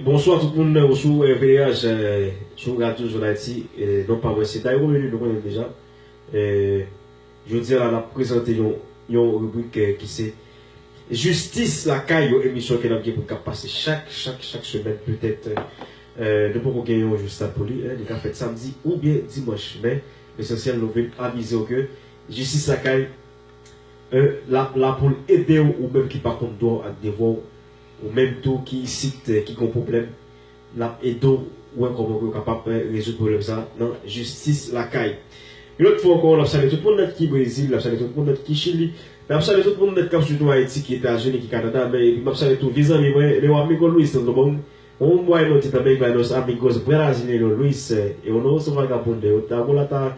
Bonswa tout moun ou sou RVH sou radyo zòn ayiti non pa mwen se Tayron Luny nou konnen deja jodi la nap prezante yon ribrik ki se jistis lakay yon emisyon ke nap gen pou kap pase chak chak chak semèn petèt nou poko gen yon jou stab pou li li ka fèt samdi oubyen dimanch men lesansyèl nou vin avizew ke jistis lakay E lap la poul edew ou menm ki pa konn dwaw ak devwaw ou menm tou ki isit ki gon pwoblèm lap edew wè kòman pouw kapab rezoud pwoblèm sa nan jistis lakay yon lòt fwa ankò nap salye tout moun nèt ki brezil nap salye tout moun nèt ki chili nap salye tout moun nèt kap swiv nou ayiti ki etazini ki kanada men epi map salye tou vye zanmi mwen meu amigo Luis santo domingo un bueno ti também para nos amigos brasilieno Luis e uno su vagabundo eu trago la ta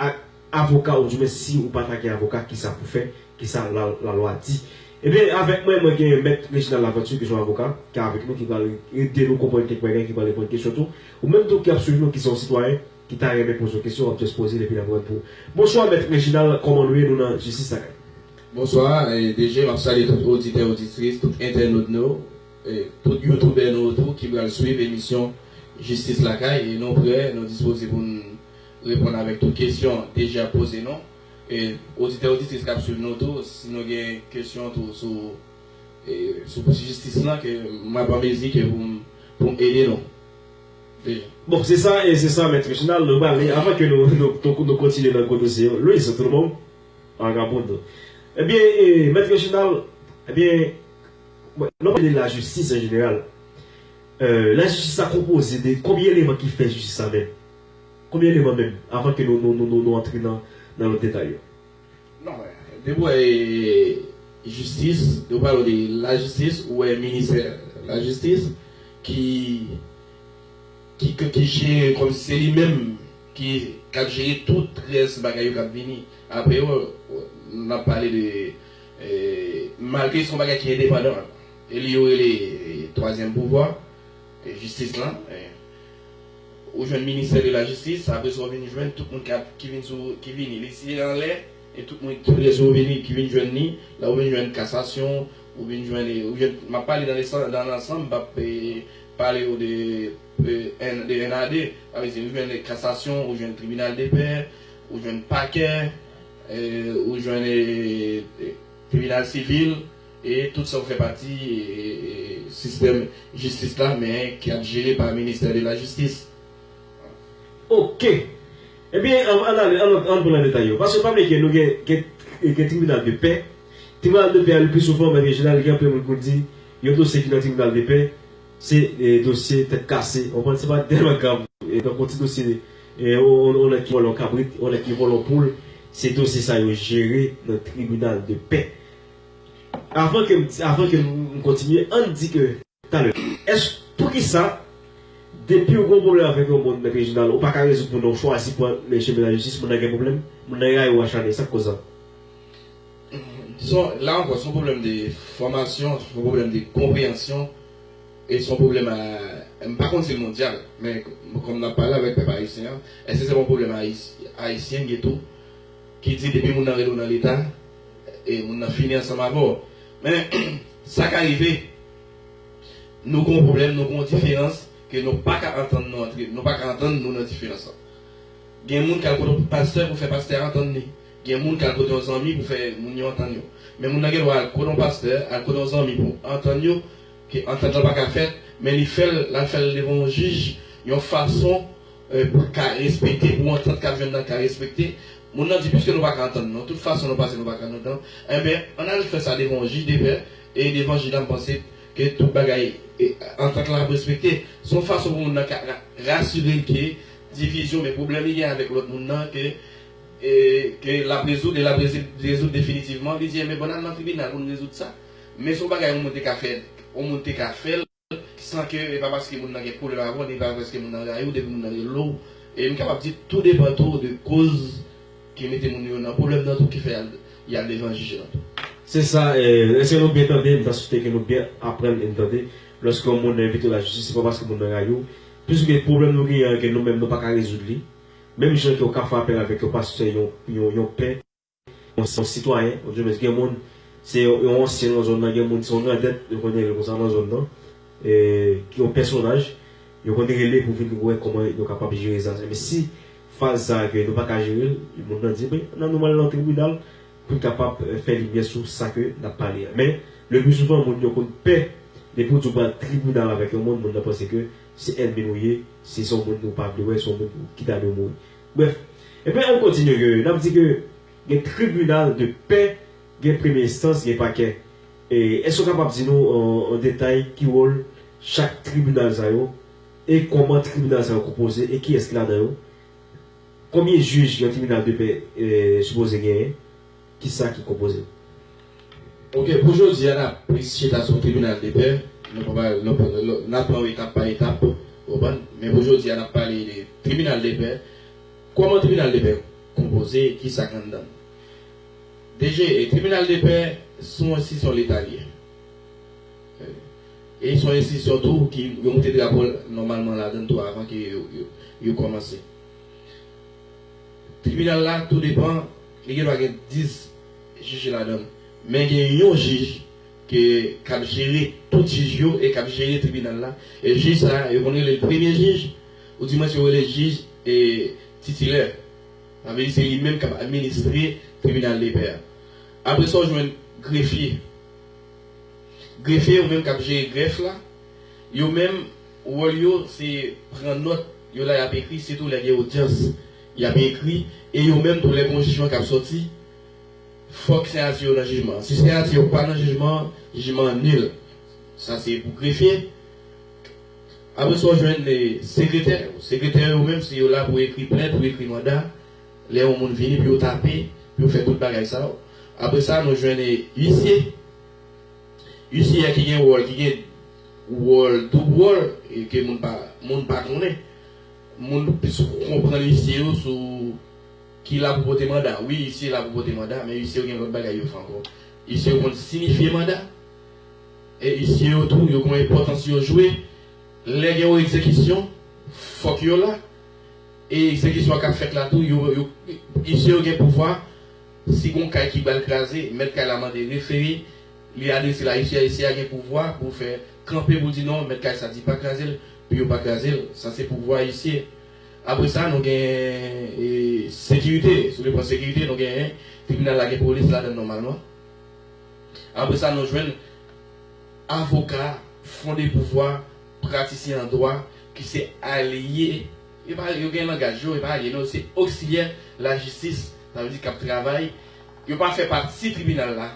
ak avoka ou di mwen si ou pata gen avoka kisa pou fè kisa la lwa di ebyen avèk mwen mwen gen mèt Reginald Laventure ki son avoka ki avèk nou ki pral ede nou konprann kèk bagay ki pral reponn kesyon tou ou menm tou ki ap swiv nou ki se yon sitwayen ki ta renmen poze yon kesyon wap just pozel epi lap rann pou ou bonswa mèt Reginald kòman nou ye nou nan jistis lakay. Bonswa DG map salye tout oditè oditris tout entènot nou tout youtubè nou yo tou ki pral swiv emisyon jistis lakay e nou prè nou dispoze poun Reponn avèk tout kesyon Deja poze nou. E oditè oditris kap swiv nou tou si nou gen kesyon tou sou sou pwosesis jistis lan ke map an mezi ke poum poum ede nou Deja. Bon se sa e se sa mèt Reginald nou pral li avan ke nou nou kontinye nan gwo dosye yo Luis ou tout bon? Vagabondou Ebyen e mèt Reginald ebyen lè w pale lajistis an jeneral e lajistis sa konpoze de konbyen eleman ki fè jistis sa menm? Konbyen eleman menm, avan ke nou antre nan lòt detay yo? Non men, depi w wè jistis, depi w pale de lajistis, ou wè minisè lajistis ki jere kòm si se li menm ki ap jere tout rès bagay yo k ap vini apre yo. N ap pale de, malgre se yon bagay ki endepandan, e li yo rele twazyèm pouvwa. Jistis lan Ou jwenn ministè de la jistis apre sa ou vin jwenn tout moun ki vin sou ki vini li siye anlè e tout moun tout lè sa ou vini ki vin jwenn li la ou vin jwenn kasasyon ou vin jwenn e ou jwenn m ap pale nan lesann nan lansanm m p ap pale ou de en de en a de sa vle di ou jwenn kasasyon ou jwenn tribinal de pè ou jwenn pakè e ou jwenn e tribinal sivil e tout sa yo fè pati sistèm jistis la men ki ap jere pa ministè de la jistis. Ok! Ebyen ann ale, ann pran nan detay yo. Paske pa bliye ke nou gen tribinal de pè, tribinal de pè a le pli souvan mèt Reginald gen anpil moun pou di yon dosye ki nan tribinal de pè se dosye tèt kase, ou konprann se pa tèlman grav donk yon ti dosye yon nèg ki vòlè yon kabrit, yon nèg ki vòlè yon poul se dosye sa yo jere nan tribinal de pè. Avan ke avan ke m kontinye ann di ke. Talè. Èske poukisa depiw gen yon pwoblèm avèk yon moun, Mèt Reginald, ou paka rezoud moun nan, ou chwazi pran men chemen lajistis, moun nan gen pwoblèm? Moun nan rayiw, achane, sak koz sa? Son la ankò son pwoblèm de fòmasyon, son pwoblèm de konpreyansyon e son pwoblèm a m pa konn si l mondyal men kòm nap pale avèk pèp ayisyen an, èske se pa yon pwoblèm ayisyen ki gen tou ki di depi moun nan rele w nan leta e moun nan fini ansanm avè w. Men, sa ka rive nou gen yon pwoblèm, nou gen yon diferans ke nou pa ka antann nou antre, nou pa ka antann nou nan diferans lan. Gen moun k al kote yon pastè pou fè pastè a antann li. Gen moun k al kote yon zanmi pou fè moun yo antann yo. Men moun nan gen dwa al kote yon pastè, al kote yon zanmi pou antann yo, ke antant lan pa ka fèt, men li fè l, l al fè l devan yon jij yon fason, Pou l ka respekte, pou antant k ap jwenn nan ka respekte, moun nan di piske nou pa ka antann nou, tout fason nou pase nou pa ka antann, enben ann al fè sa devan yon jij depè, e devan jij la m panse ke tout bagay, antant lan ap respekte. Se yon fason pou moun nan ka rasire l ke divizyon oubyen pwoblèm li gen avèk lòt moun nan ke ke l ap rezoud e l ap rezoud definitivman. Li di enben bon n al nan tribinal pou n rezoud sa. Men se yon bagay yon moun te ka fè, yon moun te ka fè l. san ke e pa paske moun nan gen kolera avèw ni pa paske moun nan rayi ou depi moun nan rele w e m kapab di tou depan tou de koz ki mete moun yo nan pwoblèm nan tou ki fè yal devan jij lan tou. Se sa eske nou byen tande m ta swete ke nou byen aprann e n tande lòske yon moun nan envite w lajistis se pa paske moun nan rayi w plis ke pwoblèm nou genyen an ke nou menm nou pa ka rezoud li menm jan ke w ka fè apèl avèk yon pastè yon yon pè Yon se yon sitwayen yon jènès gen moun se yon ansyen nan zòn nan gen moun se yon grandèt yo konnen rele konsa nan zòn nan ki yon pèsonaj yo konnen rele pou vin wè kòman yo kapab jere sa men si faz sa ke nou pa ka jere l moun nan di ben ann nou mal nan tribinal pou n kapab fè limyè sou sa ke n ap pale a men le pli souvan moun yo konn pè depi w di w pral tribinal avèk yon moun moun nan panse ke se ènmi l ou ye si se yon moun ou pa vle wè se yon moun ki ta dwe mouri. Brèf, ebyen ann kontinye ke n ap di ke gen tribinal de pè, gen premye enstans, gen pakè. E èske w kapab di nou an detay ki wòl chak tribinal sa yo e kòman tribinal sa yo konpoze e kiyès ki ladan yo? Konbyen jij yon tribinal de pè sipoze genyen? Kisa ki konpoze. Ok pou jodi a nap plis chita sou tribinal de pè nou pa pale nou nap pran yo etap pa etap ou konprann men pou jodi a nap pale de tribinal de pè kòman tribinal de pè konpoze kisak anndan l DG e tribinal de pè se yon enstitisyon leta li ye e se yon enstitisyon tou ki yo moute drapo l nòmalman ladan l tou avan ke yo kòmanse. Tribinal la tou depan, li gen dwa gen 10 jij ladan l. Men gen yon jij ke k ap jere tout jij yo e k ap jere tribinal la. E jij sa a, yo konn rele l premye jij, oudimwens yo rele l jij titilè. Sa vle di se li menm k ap administre tribinal depè a. Apre sa ou jwenn grefye. Grefye yo menm k ap jere grèf la, yo menm. Wòl yo se pran nòt, yo la y ap ekri sitou lè gen odyans y ap ekri e yo menm tou lè gen yon jijman k ap sòti fòk siyati yo nan jijman an. Si siyati yo pa nan jijman an, jijman an nil. Sa se pou grefye. Apre sa w jwenn sekretè. Sekretè yo menm se yo la pou ekri plent, pou ekri manda lè yon moun vini pou yo tape, pou yo fè tout bagay sa yo. Apre sa nou jwenn isye. Yon siyè ki gen wòl, ki gen wòl, doub wòl, e ke moun pa, moun pa konnen. Moun plis konprann isye yo sou ki la pou pote manda. Wi, isye la pou pote manda, men isye yo gen lòt bagay yo fè ankò. Isye yo konn sinifye manda. E isye yo tou, yo konn enpòtans yo jwe. Lè gen yon egzekisyon, fòk yo la. E egzekisyon an k ap fèt la tou, yo, yo, isye yo gen pouvwa. Si gon kay ki bal kraze, mèt kay la mande refere, li adrese l a ICA, ICA gen pouvwa pou fè kanpe pou di non, mèt kay sa di pa kraze l, pou yo pa kraze l. Sa se pouvwa ICA. Apre sa, nou gen sekirite, sou le plan sekirite, nou gen tribinal la gen polis ladan l nòmalman. Apre sa, nou jwenn avoka fonde pouvwa, pratisyen an dwa ki se alye. Yo pale, yo gen langaj yo, yo pa alye non, se oksilyè lajistis, sa vle di k ap travay, yo pa fè pati tribinal la,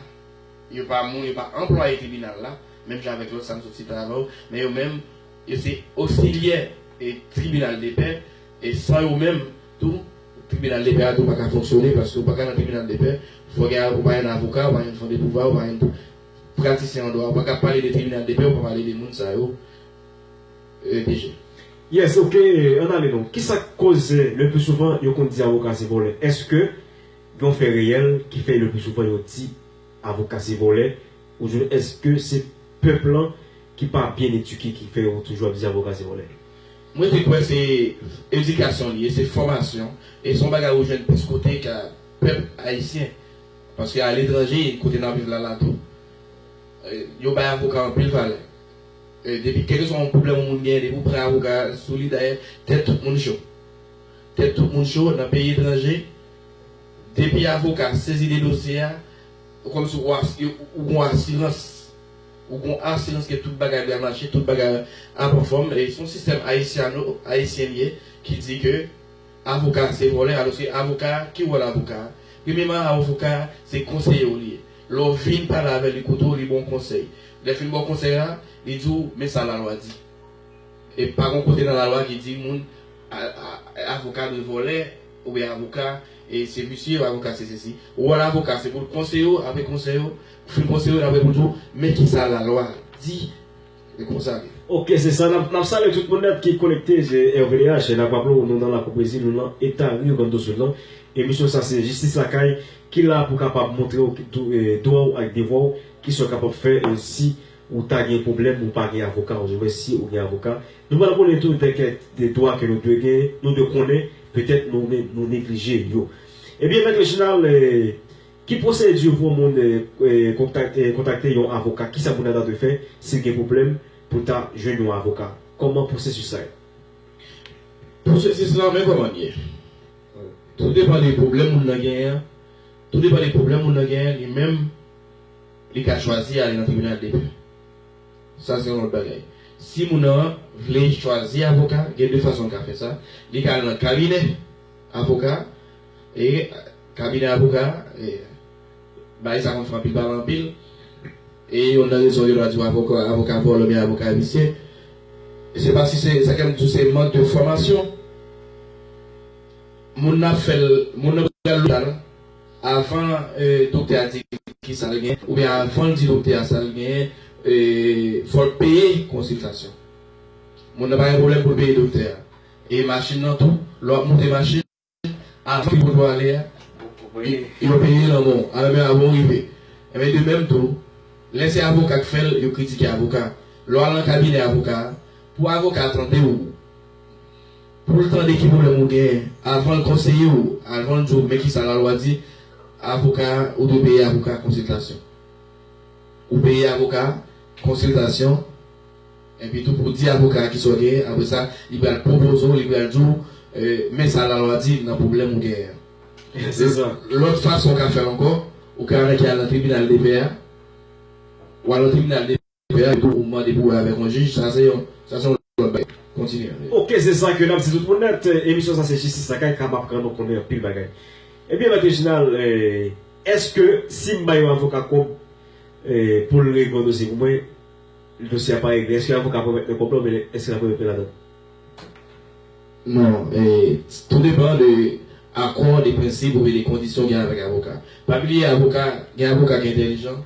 yo pa moun, yo pa anplwaye tribinal la, menm jan avèk lòt sa m sot site avan yo, men yo menm, yo se oksilyè tribinal depè, e san yo menm tou, tribinal depè a tou pa ka fonksyone, paske ou pa ka nan tribinal depè, fò gen, ou pa yon avoka, ou pa yon fandepouvwa, ou pa yon pratisyen an dwa, ou pa ka pale de tribinal depè, ou pa pale de moun sa yo. Dije. Yes ok ann ale non. Kisa k koz le pli souvan yo konn di avoka se vòlè? Eske gen yon fè reyèl ki fè le pli souvan yo di avoka se vòlè ouswen eske se pèp lan ki pa byen eduke ki fè yo toujou ap di avoka se vòlè? M rete kwè se edikasyon li ye, se fòmasyon e se yon bagay ou jwenn plis kote ka pèp ayisyen paske aletranje kote n ap viv la la tou yo bay avoka anpil valè. Depi kèlkeswa yon pwoblèm yon moun genyen depi ou pran avoka sou li dayè tèt tout moun cho. Tèt tout moun cho nan peyi etranje depi avoka sezi de dosye a ou kòmsi ou ou gon asirans ou gon asirans ke tout bagay byen mache tout bagay ap anfòm e son sistèm ayisyano ayisyen li ye ki di ke Avoka se vòlè aloske avoka ki wòl avoka premyeman avoka se konseye w li ye lè w vin pale avè li koute w li ba w konsèy lè fin ba w konsèy la li di w men sa lalwa di e pa gon kote nan lalwa ki di moun avoka dwe vòlè oubyen avoka se visye avoka se sesi wòl avoka se pou l konseye w apre konsèy ou fin konseye w aprè pou l di w men kisa lalwa di. E konsa li. Ok se sa nap salye tout moun net ki konekte se RVDH nap raple w nou nan lakou pwezi nou nan eta Rio Grande do Sul lan emisyon sa se jistis lakay ki la pou kapab montre w dwa w ak devwa w kisa w kapab fè si ou ta gen pwoblèm ou pa gen avoka ouzwen si ou gen avoka nou pral konnen tou de kèk de dwa ke nou dwe gen nou dwe konnen petèt nou neglije yo ebyen mèt Reginald Ki pwosedi pou moun kontakte yon avoka? Kisa moun nan ta dwe fè si l gen pwoblèm pou l ta jwenn yon avoka? Kòman pwosesis la ye? Pwosesis la men kòman l ye. Tou depan de pwoblèm moun nan genyen an, tou depan de pwoblèm moun nan genyen, li menm li ka chwazi ale nan tribinal de pè. Sa se yon lòt bagay. Si moun nan vle chwazi avoka, gen de fason l ka fè sa. Li ka al nan kabinè avoka, E kabinè avoka a, e bagay sa konn fè anpil pale anpil. E yonn nan rezon yo ta di w avoka vòlè oubyen avoka visye, se pa si se sa kè m di w se mank de fòmasyon. Moun nan ap fè l, moun nan pral lopital avan doktè a di ki sa l gen oubyen avan l di doktè a sa l gen, e fò l peye konsiltasyon. Moun nan pa gen pwoblèm pou l peye doktè a. E machin nan tou, lè w ap moute machin. Avan yo poko ale a, yo peye lanmò w. Alò men avan w rive. Enben de menm tou, lè se avoka k fè l, yo kritike avoka a. Lè w al nan kabinè avoka a, pou avoka a tande w, pou l tande ki pwoblèm ou genyen, avan l konseye w, avan l di w men ki sa lalwa di, avoka a, ou dwe peye avoka a konsiltasyon. Ou peye avoka a konsiltasyon. Epi tou pou di avoka a ki sa w genyen, apre sa, li pral pwopoze w, li pral di w, Men sa lalwa di nan pwoblèm ou genyen an. Se sa. Lòt fason w ka fè l ankò, ou ka anrete al nan tribinal depè a. W al nan tribinal depè a epi w mande pou wè avèk yon jij. Sa se yon lòt bagay. Kontinye. Oke, se sa ke n ap di tout moun nèt. Emisyon sa se Jistis Lakay k ap aprann ou konnen anpil bagay. Ebyen, Mèt Rejinal, èske si m bay yon avoka kòb pou l regle yon dosye pou mwen, Dosye a pare byen. Eske avoka pran mèt nan konplo men eske lap remet mèt la dan. Non, tou depan de akò de prensip oubyen de kondisyon w gen avèk avoka. Pa bliye avoka, gen avoka ki entèlijan,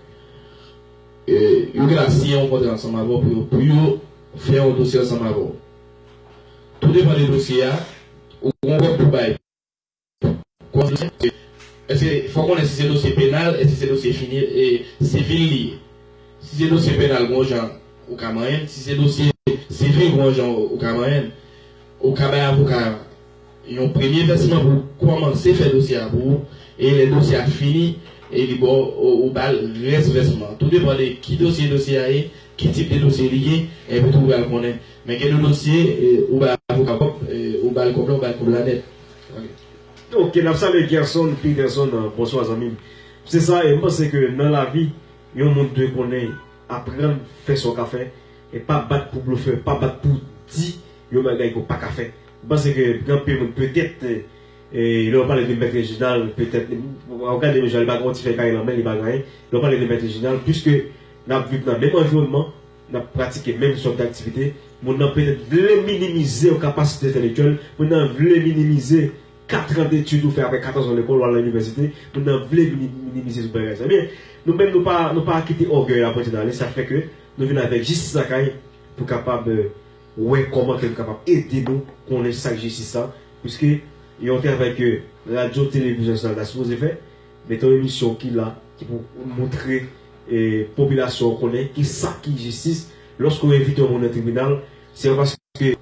yo gen la siyen yon kontra ansanm avè w pou yo pou yo fè yon dosye ansanm avè w. Tou depan de dosye a, ou gen yon kòb pou bay. Kòz dosye a se, èske fò konnen si se dosye penal, èske se dosye fini e sivil li ye. Si se dosye penal gon jan ou ka manyen l, si se dosye sivil gon jan ou ka manyen l. Ou ka bay avoka a yon premye vèsman pou kòmanse fè dosye a pou ou e lè dosye a fini e li ba w, ou ba l rès vèsman an. Tou depan de ki dosye dosye a ye, ki tip de dosye li ye, epitou ou pral konnen. Men gen de dosye ou bay avoka a kòb, ou ba l kòb la, ou ba l kòb la nèt. Ok nap salye Gerson Peterson bonswa zanmim se sa e m panse ke nan lavi yon moun dwe konnen aprann fè sa w ka fè e pa bat pou blofè pa bat pou di yon bagay ke w paka fè m panse ke gen anpil moun petèt lè yo pale de mèt Reginald petèt wap gade yo jan li pa gen yon ti fèy kay nan men li pa gen anyen lè yo pale de mèt Reginald piske nap viv nan menm anviwònman N ap pratike menm sòt d'aktivite, moun nan petèt vle minimize yon kapasite entèlektyèl, moun nan vle minimize katran detid ou fè aprè katòzan lekòl ou al nan inivèsite, moun nan vle minimize tout bagay sa. Ebyen, nou menm nou pa nou pa kite ògèy la pote n ale, sa fè ke nou vin avèk jistis lakay pou kapab wè kòman ke nou kapab ede nou konnen sa k jistis la, piske yon travay ke Radyo Televizyon Nasyonal ta sipoze fè, Mete yon emisyon ki la ki pou moutre popilasyon an konnen ki sa ki jistis lòske ou envite yon moun nan tribinal se pa paske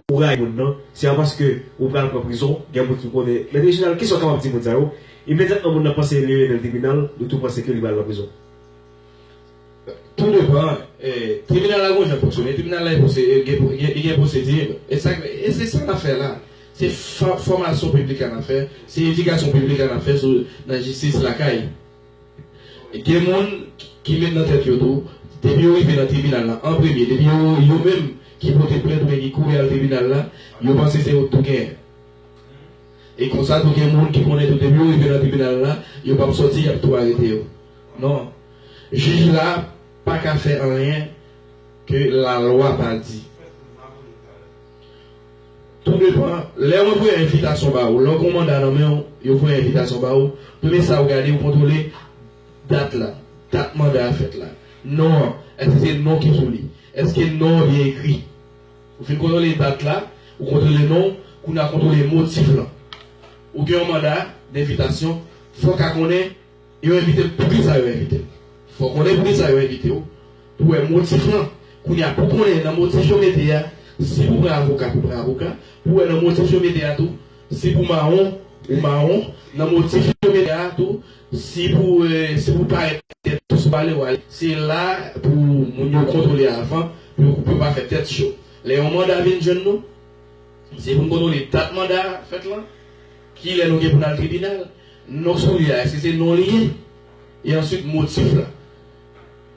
ou rayi moun nan se pa paske ou pral pran prizon gen moun ki konnen mèt Reginald kisa ou kapab di moun sa yo imedyatman moun nan panse li metel tribinal yo tou panse ke li pral nan prizon. Tou depan tribinal la gonjan fonksyone. Tribinal la li gen pwosedi. E sa e se sa n ap fè la. Se fòmasyon piblik la n ap fè. Se edikasyon piblik la n ap fè sou nan jistis lakay. Gen moun ki met nan tèt yo tou depi yo rive nan tribinal la an premye depi yo yo menm ki pote plent oubyen ki kouri al tribinal la yo panse se yo k tou genyen. E konsa tou gen moun ki konnen tou depi yo rive nan tribinal la yo p ap sòti y ap tou arete yo. Non. Jij la pa ka fè anyen ke lalwa pa di. Tou depan, lè mwen voye envitasyon ba ou, lè w gen yon manda nan men w, yo voye envitasyon ba ou, premye sa ou gade, ou kontwole dat la, dat manda a fèt la. Non an, èske se non ki sou li? Èske non an byen ekri? Ou fin kontwole dat la, ou kontwole non, kounye a kontwole motif lan. Ou gen yon manda denvitasyon, fò w ka konnen. Yo envite m poukisa yo envite m? Fò konnen poukisa yo envite w pou wè motif lan. Kounye a pou konnen nan motif yo mete a si pou pran avoka pou pran avoka, pou wè nan motif yo mete a tou si pou mawon ou mawon, nan motif yo mete a tou si pou si pou parèt tèt cho sou pale ou ale. Se la pou moun yo kontwole avan pou yo pou yo pa fè tèt cho. Lè yon manda vin jwenn nou, se pou n kontwole dat manda a fèt lan. Kilè nou gen pou n al tribinal? Non soulye a, èske se non li ye? E answit motif la?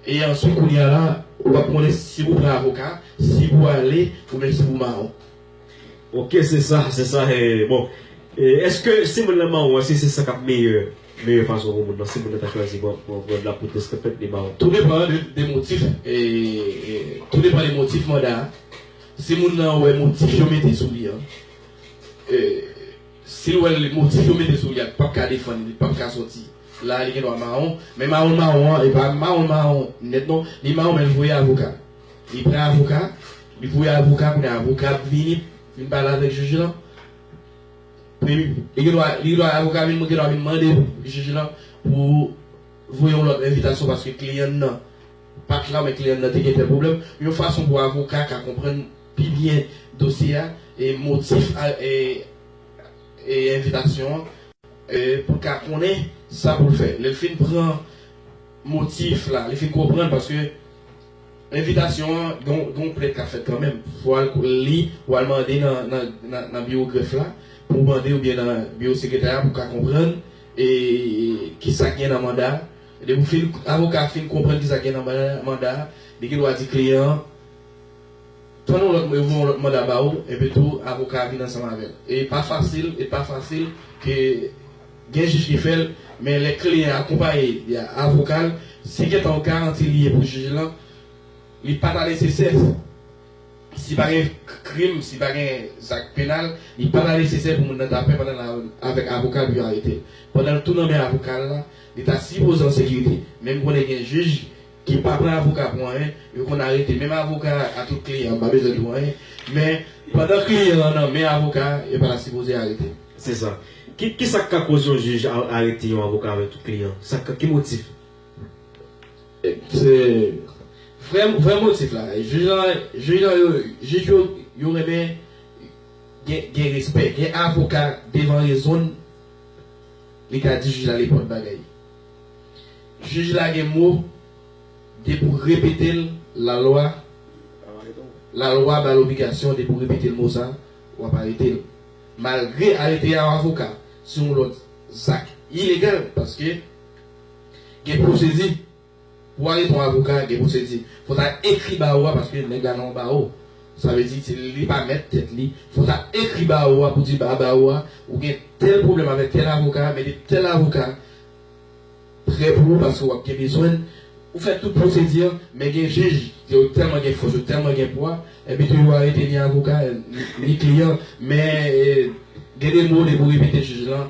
E answit kounye a la, ou pa pou konnen si pou pran avoka, si pou ale, oubyen si pou mawon. Ok, se sa, se sa e bon. E èske si moun lan mawon, èske se sa k ap meyè, meyè fason pou moun lan, si moun lan ta chwazi pran, pran, pran la poudre ke fèt li mawon? Tou depan de, de motif e, e tou depan de motif manda a. Si moun lan wè motif yo mete sou li an, Sil wèl li motif yo mete sou li a li pap ka defann li li pap ka soti la li gendwa mawon men mawon mawon an epa mawon mawon nèt non li mawon men li voye avoka li pran avoka li voye avoka kounye a avoka ap vini vin pale avèk jij lan premye li gendwa li gendwa avoka vin gendwa vin mande jij lan pou voye yon lòt envitasyon paske kliyan nan pat la men kliyan nan te gen tèl pwoblèm yon fason pou avoka ka konprann pi byen dosye a, motif envitasyon an. Pou l ka konnen sa pou l fè. Lè l fin pran motif la, li fin konprann paske envitasyon an gen yon plent k ap fèt kanmenm. Fò w al li, w al mande nan biwo grèf la pou w mande oubyen nan biwo sekretarya pou w ka konprann ki sa k gen nan manda a. Depi avoka a fin konprann ki sa k gen nan manda a, li gen dwa di kliyan an Tann yon lòt yo gen yon lòt manda ba ou epi tou avoka a vin ansanm avèl e pa fasil e pa fasil ke gen jij ki fèl men lè kliyan an akonpaye via avokal si gen tan garanti li ye pou jij lan li pa ta nesesè si pa gen krim si pa gen zak penal li pa ta nesesè pou moun nan ta pè pandan la avèk avokal pou yo aretel pandan l tou nan men avokal la li ta sipoze an sekirite menm konnen gen jij Ki pa pran avoka pou anyen, yo konn arete menm avoka a tout kliyan an pa bezwen l pou anyen, men pandan kliyan an nan men avoka a, yo pa ta sipoze arete l. Se sa. Ki ki sa k ka koz yon jij arete yon avoka avèk tout kliyan? Sa ka ki motif? Se vrè vrè motif la. Jij lan jij lan yo jij yo yo renmen gen gen respè. Gen avoka devan rezon l li ka di jij la nenpòt bagay. Juge la gen mo de pou repetel la lwa la lwa bal obligasyon de pou repetel mo sa wap aretel malgre arete a avoka se yon lot zak ilegal paske gen pwosedi. Pou ale pou avoka gen pwosedi. Fò ta ekri bawo a paske nèg la nan yon bawo. Sa vle di se li pa mèt tèt li. Fò ta ekri bawo a pou di ba bawo a ou gen tèl pwoblèm avèk tèl avoka, mete tèl avoka prè pou ou paske w ap gen bezwen l. Ou fè tout pwosedi an, men gen jij ke yo tèlman gen fòs, yo tèlman gen pwa, enpi tou yo arete ni avoka, ni kliyan. Men gen de mo depi ou repete jij lan.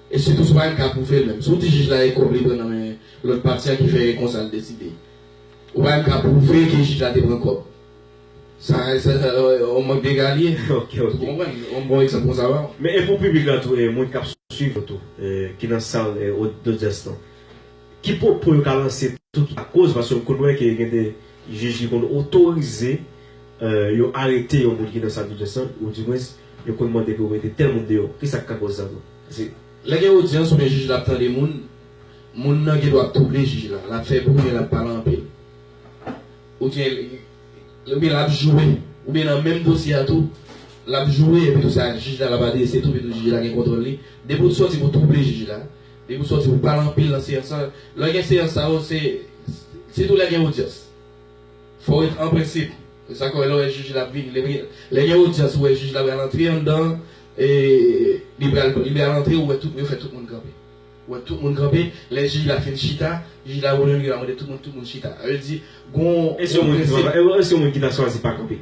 E sitou se pa yon ka pou fè l menm. Si w di jij la e kòb li pran nan men lòt pati a ki fè e konsa l deside. Ou pa menm ka pwouve ke jij la te pran kòb. Sa yon mank degalye. Ok, ok. Ou konprann? Yon bon egzanp konsa ba w. Men e pou piblik la tou e moun k ap swiv nou tou ki nan sal dodyans lan. Ki pwopo yo ka lanse tou ki lakoz paske m konn wè ke gen de jij ki konn otorize yo arete yon moun ki nan sal dodyans lan ou dimwens Yo konn mande pou yo mete tèl moun deyò. Kisa k ka kòz sa tou? Paske, lè gen odyans oubyen jij la ap tande moun, moun nan gen dwa ap twouble jij la. L ap fè bri oubyen l ap pale anpil. Oubyen, oubyen l ap joure. Oubyen nan menm dosye a tou, l ap joure epi tou sa jij la l ap adrese tou epi tou jij la gen kontwòl li. Depi ou t sòti pou twouble jij la, depi ou t sòti pou pale anpil nan seyans lan, lè gen seyans sa yo se sitou lè gen odyans. Fò w ret an prensip. Se sa k wè lè w wè jij la ap vini. Lè lè gen odyans ou wè jij la pral antre anndan an e li pral li pral antre ou wè tout yo fè tout moun kanpe. Ou wè tout moun kanpe, lè jij la fin chita, jij la wè menm li pral mande tout moun tout moun chita. Sa vle di gon gon prensip. E si yon moun ki ta chwazi pa kanpe?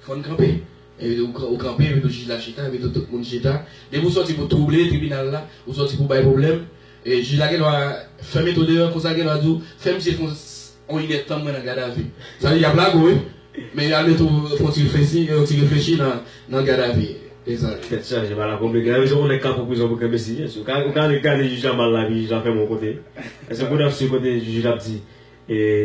Fò n kanpe. Evite ou kanpe, evite ou jij la chita, evite tout moun chita. Depi ou sòti pou twouble tribinal la, ou sòti pou bay pwoblèm, jij la gendwa fè mete w deyò, konsa l gendwa di w, fè misye fè yon inèd tan mwen nan gadavi. Sa vle di y ap lage w wi, men y al mete w fè yon ti reflesi, yon ti reflechi nan gadavi. E sa. Tèt chaje bagay la konplike. Nan yon jou ou nèk ka pran prizon pou kenbe si. Ou ka gade jij la mal la epi jij la fè m yon kote. Èske ou konn yon aksyon kote jij la ap di,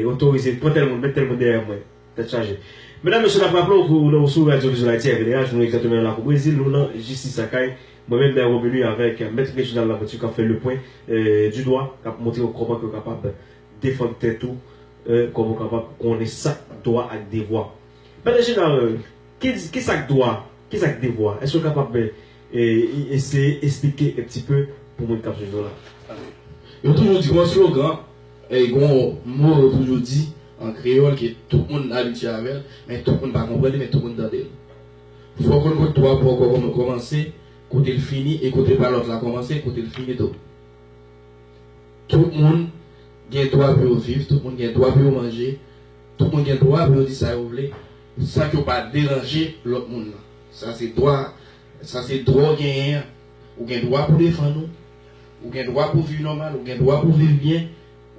otorize, pran tèl moun, met tèl moun dèyè mwen. Tèt chaje. Medam mesye nap raple w ke w nan w sou Radyo Vizyon Ayiti RVDA jounn egzatèmen an la kou Brezil nou nan Jistis Lakay mwen menm Mère Romilly avèk Mèt Reginald Laventure kap fè lepwen du dwa kap montre w kòman ke w kapab defann tèt ou kòman w kapab konnen sak dwa ak devwa Mèt Reginald kisa k dwa kisa k devwa èske w kapab Eseye esplike un petit peu pou moun kap swiv nou la. Yo toujou di gon slogan, gon mo yo toujou di an kreyòl ke tout moun abitye avè l, men tout moun pa konprann li, men tout moun tande l. Fò w konn kote twa pò kòmanse, kote l fini e kote pa lòt la kòmanse e kote l fini tou. Tout moun gen dwa pou yo viv, tout moun gen dwa pou yo manje, tout moun gen dwa pou yo di sa yo vle san ke yo pa deranje lòt moun nan. Sa se dwa, sa se dwa w genyen an. Ou gen dwa pou w defann ou, ou gen dwa pou w viv nòmal, ou gen dwa pou w viv byen,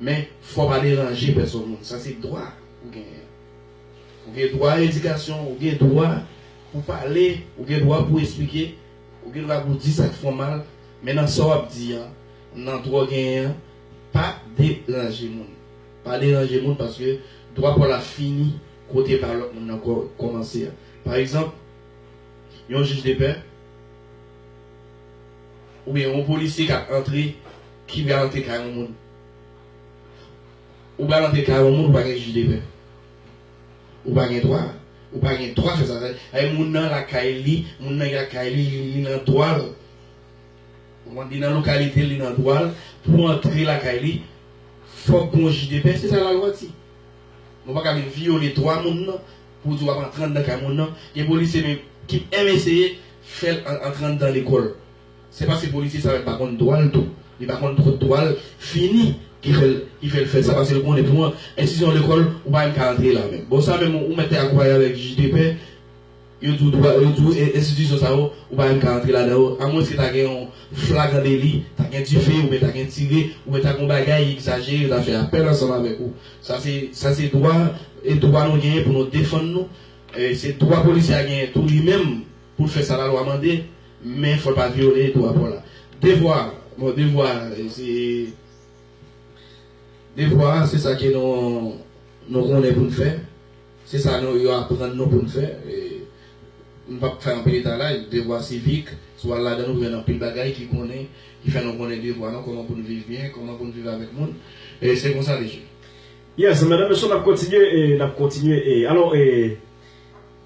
men fò w pa deranje pèsòn moun. Sa se dwa ou genyen an. Ou gen dwa a edikasyon, ou gen dwa pou w pale, ou gen dwa pou w esplike, ou gen dwa pou w di sa k fè w mal, men nan sa w ap di an, nan dwa w genyen an, pa deranje moun. Pa deranje moun paske dwa pa w la fini. kote pa lòt moun nan kòmanse a. Pa egzanp, yon jij de pè oubyen yon polisye k ap antre, ki pral antre kay yon moun. Ou pral antre kay yon moun ou pa gen jij de pè. Ou pa gen dwa. Ou pa gen dwa fè sa. Sa vle di moun nan lakay li, moun nan gen kay li, li nan dwa l, ou konprann, li nan lokalite l, li nan dwa l pou antre lakay li, fòk gen yon jij de pè. Se sa lalwa di. Nou paka vin vyole dwa moun nan pou w di w ap antre anndan kay moun nan. Gen polisye menm ki menm eseye fè l antre anndan lekòl. Se paske polisye sa menm pa konn dwa l tou. Li pa konn twòp dwa l fini ki fè l ki fè l fè sa paske l konnen pou enstitisyon lekòl ou pa menm ka antre la menm. Bon sa menm ou mèt te akonpaye avèk jij de pè. Yo di w dwa, yo di w e, enstitisyon sa yo, ou pa menm ka antre ladan yo, amwenske ta gen yon flagran deli, ta gen dife, oubyen ta gen tire, oubyen ta gen yon bagay egzajere, yo ta fè apèl ansanm avèk ou. Sa se, sa se dwa, e dwa nou genyen pou nou defann nou, e se dwa polisye a genyen tou li menm pou l fè sa lalwa mande, men fò l pa vyole dwa pou la. Devwa, bon devwa a se, devwa a se sa ke nou, nou konnen pou n fè. Se sa nou yo aprann nou pou n fè. M p ap fè anpil etalaj devwa sivik, si w al ladan l ou jwenn anpil bagay ki konnen, ki fè nou konnen devwa nou, kòman pou n viv byen, kòman pou n viv avèk moun. E se konsa li ye. Yes, medam mesye n ap kontinye, n ap kontinye. Alò,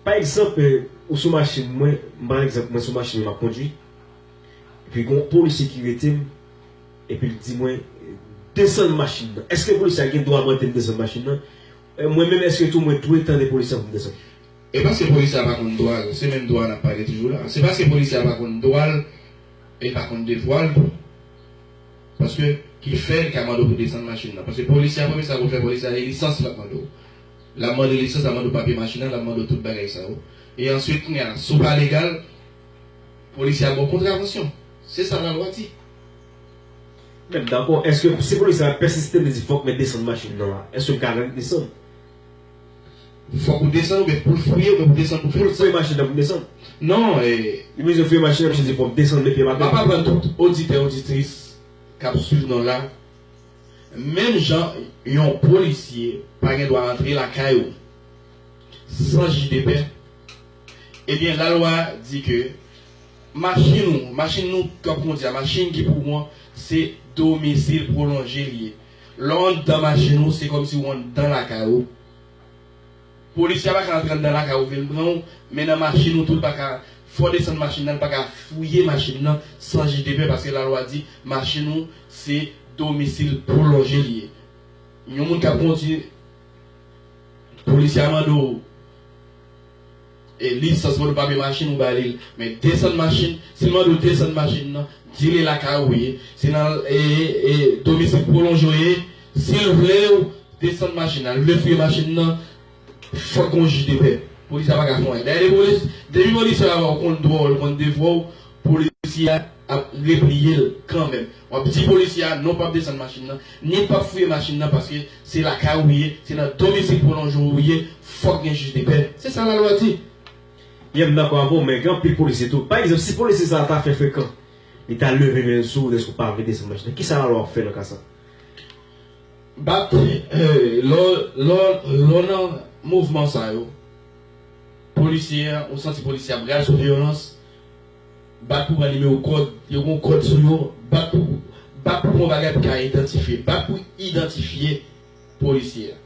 pa egzanp, ou sou machin mwen, m pran egzanp mwen sou machin mwen m ap kondui, epi gon polisye ki rete m, epi l di mwen, desann machin nan. Èske polisye a gen dwa mande m desann machin nan? Mwen menm eske tou mwen dwe tande polisye an pou m desann? E paske polisye a pa konn dwa l, se menm dwa a n ap pale toujou la. Se paske polisye a pa konn dwa l e l pa konn devwa l tou. Paske ki fè li ka mande w pou desann machin nan. Paske polisye a premye sa l konn fè, polisye a se lisans l ap mande w. L ap mande w lisans, l ap mande w papye machin nan, l ap mande w tout bagay sa yo. E answit kounye a, si w pa legal, polisye a ba w kontravansyon. Se sa lalwa di. Mèt dakò, èske si polisye a pèsiste li di fòk mèt desann machin nan a, èske m ka rèt desann? Fòk ou desann oubyen pou l fouye oubyen pou desann pou fouye? Fouye machin nan pou m desann? Non e. Li mizye fouye machin nan misye di fòk desann met pye m atè. M ap aprann tout oditè oditris k ap swiv nou la, menm jan yon polisye pa gen dwa antre lakay ou san jij de pè, Ebyen lalwa di ke machin ou, machin nou k ap kondi a, machin ki pou ou an, se domisil pwolonje li ye. Lè w anndan machin ou, se kòmsi ou anndan lakay ou. Polisye a pa ka antre anndan lakay ou vin pran ou, men nan machin ou tou l pa ka fè w desann machin nan, l pa ka fouye machin nan san jij de pè paske lalwa di machin ou se domisil pwolonje li ye. Yon moun k ap kondi, polisye a mande w. E lisans mwen nou pa men machin ou ba li l men desann machin si l mande w desann machin nan di li lakay ou ye si nan ee domisil pwolonje w ye si l vle w desann machin nan li vle fouye machin nan fòk gon jij de pè polis la pa ka fè anyen dayè depi polis depi polisye a wè w konn dwa w l konn devwa w polisye a ap repliye l kanmenm. Wap di polisye a non pap desann machin nan, ni pap fouye machin nan paske se lakay ou ye, se nan domisil pwolonje ou ye, fòk gen jij de pè. Se sa lalwa di. Yè m dakò avè w men gen anpil polisye tou pa egzanp si polisye sa ta fè frekan li ta leve men l sou ou dèske ou pa vle desann machin nan kisa lalwa ap fè nan ka sa? Bat lè w nan mouvman sa yo polisye a ou santi polisye a pral sou vyolans Bat pou pran nimewo kòd, yo gen yon kòd sou yo, bat pou bat pou pran yon bagay pou ka idantifye, bat pou idantifye polisye a.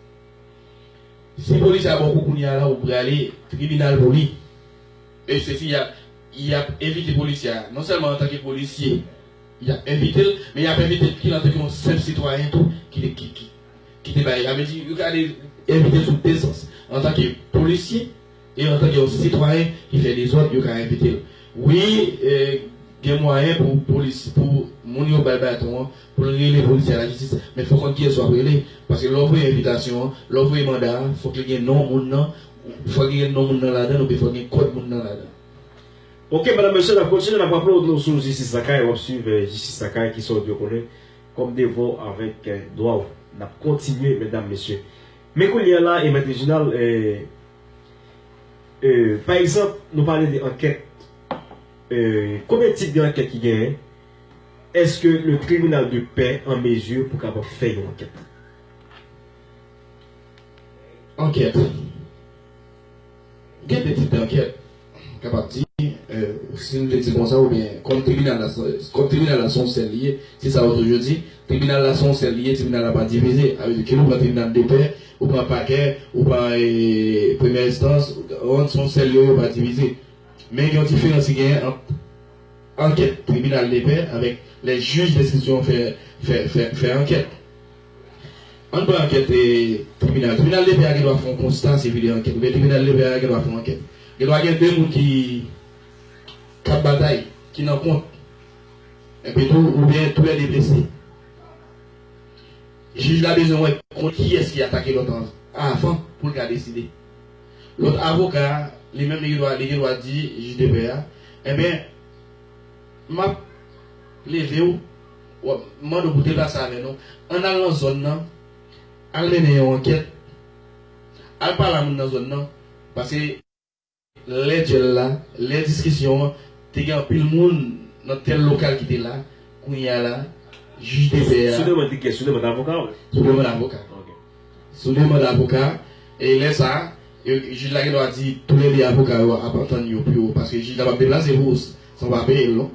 Si polisye a ba w kou kounye a la ou prale tribinal pou li. E se si y ap y ap envite polisye a non sèlman antanke polisye y ap envite l men y ap envite l antanke yon senp sitwayen tou ki te ki te bay sa vle di yo ka envite l sou de sans antanke polisye E antanke yon sitwayen ki fè dezòd yo ka envite l. Wi gen mwayen pou polis pou moun yo bay baton an pou l rele polisye a lajistis men fò w konn kiyès w ap rele paske lè w voye envitasyon an lè w voye manda a fòk li gen non moun nan fòk li gen non moun nan ladan l oubyen fòk gen kòd moun nan ladan l. Ok medam mesye nap kontinye nap raple w nou sou jistis lakay wap swiv jistis lakay ki sa w dwe konnen kòm devwa w avèk dwa w nap kontinye medam mesye Men kounye a la e Mèt Rejinal e e pa egzanp nou pale de ankèt e konbyen tip de ankèt ki genyen? Eske le tribinal de pè an mezi pou kapab fè yon ankèt? Ankèt. Gen de tip dankèt, m kapab di, si nou te di konsa oubyen kòm tribinal la kòm tribinal la se yon sèl li ye, se sa yo toujou di, tribinal la se yon sèl li ye, tribinal la pa divize. Sa vle di ke ou pran tribinal de pè, ou pran pakè, ou pran premyè enstans, se yon sèl yo, yo pa divize. Men gen yon diferans ki genyen ant ankèt tribinal de pè avèk lè jij denstriksyon fè ankèt. Ann pran ankèt tribinal. Tribinal depè a gen dwa fè yon konsta sivi de ankèt oubyen tribinal depè a gen dwa fè yon ankèt. Gen dwa gen 2 moun ki k ap batay, ki nan kont, enpi tou oubyen toulède blese. Jij la bezwen wè kont kiyès ki atake lòt an avan pou l ka deside. Lòt avoka a, li menm li gen dwa li gen dwa di jij depè a, enben m ap plede w M mande w pou deplase avè nou. An n al nan zòn nan, al mennen yon ankèt, al pale a moun nan zòn nan, paske. Lè dyèl la, lè diskisyon an, te gen anpil moun nan tèl lokal ki te la, kounye a la, jij de pè a. Sou demann de kè? Sou demann avoka w? Sou demann avoka. Ok. Sou demann avoka, e lè sa a, yo, jij la gen dwa di toulède avoka yo ap antann yo pou yo, paske jij la p ap deplase pou ou san w pa peye l non.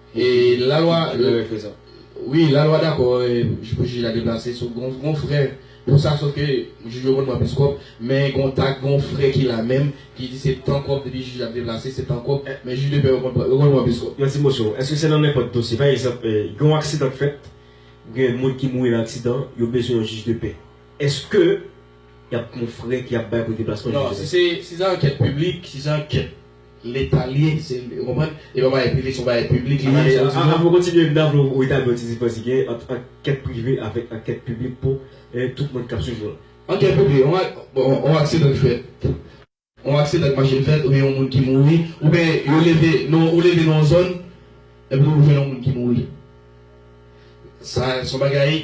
La lwa Wi la lwa dakò pou jij la deplase sou gon frè pou sa sof ke jij yo konn pran plis kòb men gon tak gon frè ki la menm ki di se tan kòb depi jij la ap deplase se tan kòb men jij de pè yo konn pran plis kòb. Yon ti mosyon, eske se nan nenpòt dosye pa egzanp gen yon aksidan k fèt gen yon moun ki mouri nan aksidan yo bezwen yon jij de pè eske y ap gon frè ki ap bay pou deplasman jij la? Non si se ankèt piblik si se ankèt Leta li ye se ou konprann e pa bagay prive se yon bagay piblik li ye sa Avan ou kontinye m ta vle ou etabli yon ti diferans ki genyen ant ankèt prive avèk ankèt piblik pou tout moun k ap swiv nou la. Ankèt prive yon aksidan ki fèt yon aksidan ak machin fèt oubyen yon moun ki mouri oubyen yo leve non ou leve nan yon zòn epi ou jwenn yon moun ki mouri sa se yon bagay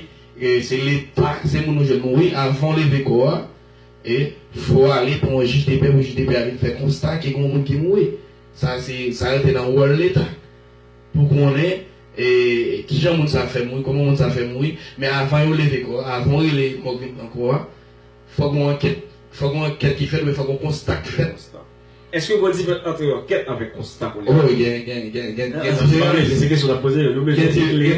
se leta se moun ou jwenn mouri avan ou leve kò a E fo ale pou yon jij depè pou jij depè a vin fè konsta ke gen yon moun ki mouri. Sa se sa rete nan wòl leta pou konnen e kijan moun sa fè mouri, kòman moun sa fè mouri. Men avan yo leve kò a, avan yo rele mòg vin pran kò a, fòk gen yon ankèt, fòk gen yon ankèt ki fèt oubyen fòk gen yon konsta ki fèt. Konstan. Eske Godiv antre yon ankèt avèk konsta pou li fè? O gen gen gen gen gen diferans. Nan, anpale, se kesyon n ap poze yo. Nou bezwen klere,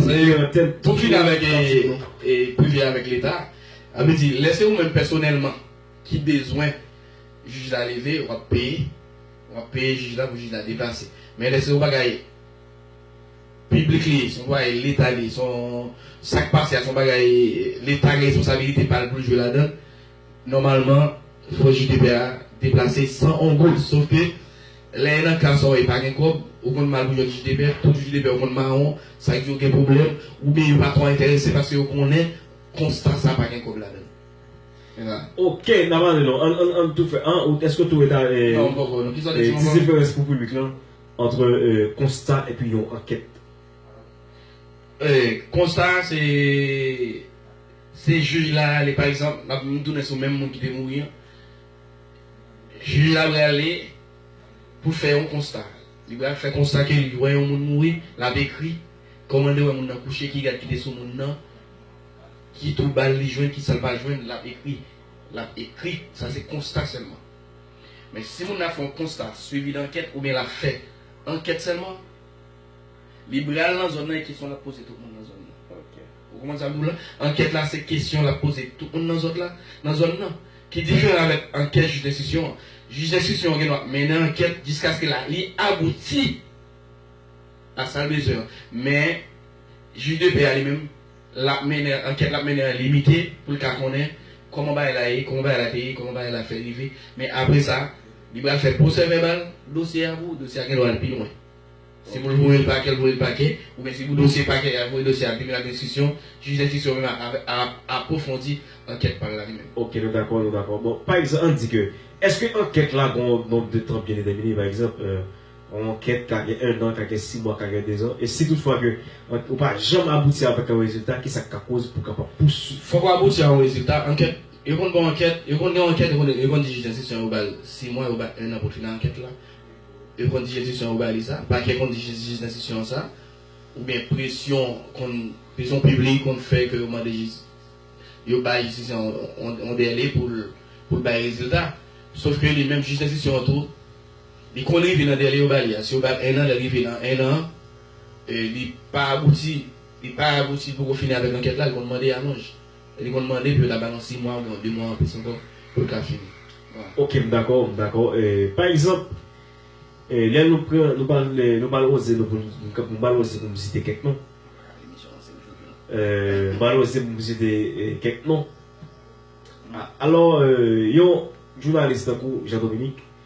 klere antèn. Pou fini avèk e privè avèk leta. Sa vle di lè se ou menm pèsonèlman ki bezwen jij la leve w ap peye w ap peye jij la pou jij la deplase men lè se yon bagay piblik li ye se yon bagay leta li ye se yon sa k pase a se yon bagay leta gen responsabilite pa l pou l jwe ladan l nòmalman fò jij de pè a deplase san yon goud sof ke lè nan ka sa w e pa gen kòb ou konn mal pou jwenn jij de pè tout jij de pè yo konn mawon sa k di yo gen pwoblèm oubyen yo pa twò enterese paske yo konnen Konsta sa pa gen kob ladann. Mira. Ok na pale non an an an tou fè an ou eske ou tou eta e Non m poko non kisa w te di m ankò? Ti diferans pou piblik lan antre konsta epi yon ankèt. E konsta a se se jij la ale pa egzanp nap m tounen sou menm moun ki te mouri an jij la prale pou fè yon konsta li pral fè konsta ke li wè yon moun mouri lap ekri kòman de wè moun nan kouche ki rad ki te sou moun nan Ki twoubalh li jwenn ki sa l pa jwenn l ap ekri l ap ekri sa se konsta sèlman men si moun nan ap fè yon konsta swivi dankèt oubyen l ap fè ankèt sèlman li bral nan zòn nan e kesyon l ap poze tout moun nan zòn nan ou konprann sa m di w la ankèt la se kesyon l ap poze tout moun nan zòt la nan zòn nan ki diferan avèk ankèt jij denstitisyon an jij denstitisyon an gen dwa mennen ankèt jiskaske la li abouti. ak sal bezwen an men jij de pè a li menm lap mennen ankèt lap mennen an limite poul ka konnen kòman bagay la ye kòman bagay la te ye kòman bagay la fè rive men apre sa li pral fè pwosè vèbal dosye a pou dosye a gendwa al pi lwen si poul voyel pakè l voyel pakè oubyen si pou dosye pakè yap voye dosye a al tribinal denstriksyon jij denstriksyon menm ap apwofondi ankèt pal la li menm. Ok nou dakò nou dakò bon pa egzanp an di ke eske ankèt la gon gon de tan byen detèmine pa egzanp. Yon ankèt ka gen 1 an, ka gen 6 mwa, ka gen 2 zan. E si tout fwa ke ou pa janm abouti avèk yon rezilta, kisa k ka koz pou kapab pouswiv? Fòk ou abouti a yon rezilta. Ankèt, yo konn ba w ankèt, yo konn gen yon ankèt, yo konn di jij denstriksyon yo ba l 6 mwa, yo ba l 1 an pou l fini ankèt la. Yo konn di jij enstriksyon yo ba li sa. Pakè konn di jij jij denstriksyon an sa. Oubyen presyon konn, presyon piblik konn fè ke yo mande jij, yo bay jij denstriksyon an yon dèle pou l, pou l bay rezilta. Sof ke li menm jij denstriksyon an tou. Li konn rive nan dèle yo ba li a. Si yo ba l 1 an, lè l rive nan 1 an, li pa abouti, li pa abouti, li poko fini avèk ankèt la, li konn mande alonj. Li konn mande pou yo ta ba l yon 6 mwa oubyen yon 2 mwa anplis ankò pou l ka fini. Wa. Ok, m dakò, m dakò. Pa egzanp, lè nou pran, nou pa l, nou pa l oze nou pou n, nou pa l oze pou m site kèk non. Nou pa l oze pou m site kèk non. Alò, yon jounalis tankou Jean Dominique,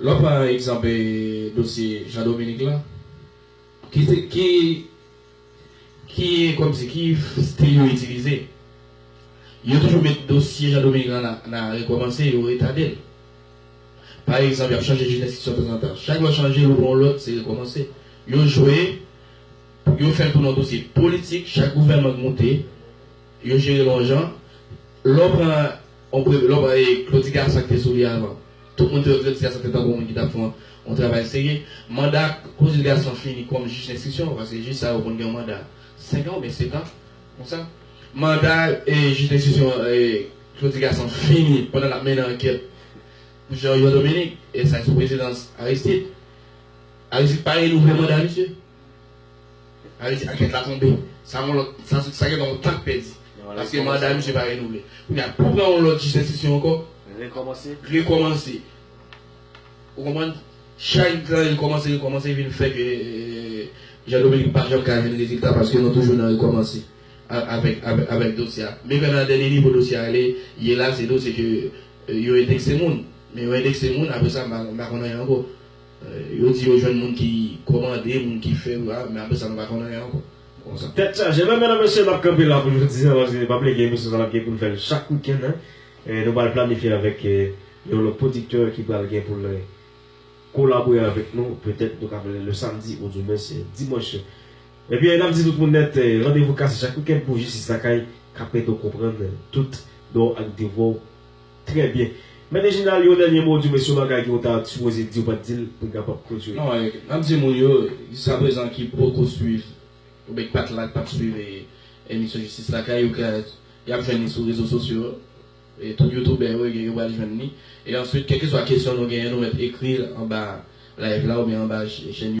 Lè w pran egzanp dosye Jean Dominique lan, ki ki kòmsi ki stil yo itilize? Yo toujou met dosye Jean Dominique lan nan rekòmanse, yo retade l. Pa egzanp, y ap chanje jiridiksyon tanzantan. Chak lè w chanje l ou pran yon lòt, se rekòmanse. Yo jwe, yo fè l tounen yon dosye politik, chak gouvènman k moute, Yo jere l on jan. Lè w pran on pre, lè w pran e kloti gason ki te sou li avan, tout moun te wè kloti gason te tankou moun ki t ap fè on on travay serye. Manda kloti gason fini kòm jij denstriksyon, paske jij sa yo konn gen on manda senkan oubyen setan, konsa. Manda e jij denstriksyon e kloti gason fini pandan l ap mennen ankèt pou Jan Jan Dominik e sa e sou prezidans Aristid. Aristid pa renouvle manda misye. Alè di ankèt la tonbe, sa yon lòt, sa sa gen yon tan k pèdi. Paske manda misye pa renouvle. Kounye a, pou pran yon lòt jij denstriksyon ankò. Rekòmanse. Rekòmanse. Ou konprann? Chak gran rekòmanse rekòmanse vin fè ke Jean Dominique pa janm ka jwenn rezilta paske nou toujou nan rekòmanse avèk avèk dosye a. Men kè nan dènye nivo dosye a ale ye la se dosye ke yo endekse moun. Men yo endekse moun apre sa m pa konn anyen ankò. Yo di yo jwenn moun ki komande, moun ki fè yo a, men apresa nou pa konn anyen ankò. Konsa. Tèt chaje. Men mèdam mesye nap kanpe la pou jodi an paske pa ple gen emisyon sa nap gen poun fèl chak weekend hein. Nou pral planifye avèk yon lòt producteur ki pral gen poul kolabore avèk nou petèt nou ka fèl le samedi ou du moins dimanche. Ebyen nap di tout moun nèt randevou kase chak weekend pou Jistis Lakay kap ede w konprann tout dwa w ak devwa w Trè byen. Mèt Reginald yon dènye mo ou di w mesye w bagay ke w ta sipoze di w pa t di l pou n kapab klotire. Non, n ap di moun yo jiskaprezan ki poko swiv oubyen ki pa t la, ki pa t swiv emisyon Jistis Lakay yo ke y ap jwenn li sou rezo sosyo e tout youtoubè yo yo pral jwenn li e answit kèlkeswa kesyon nou genyen nou mèt ekri l anba live la oubyen anba chèn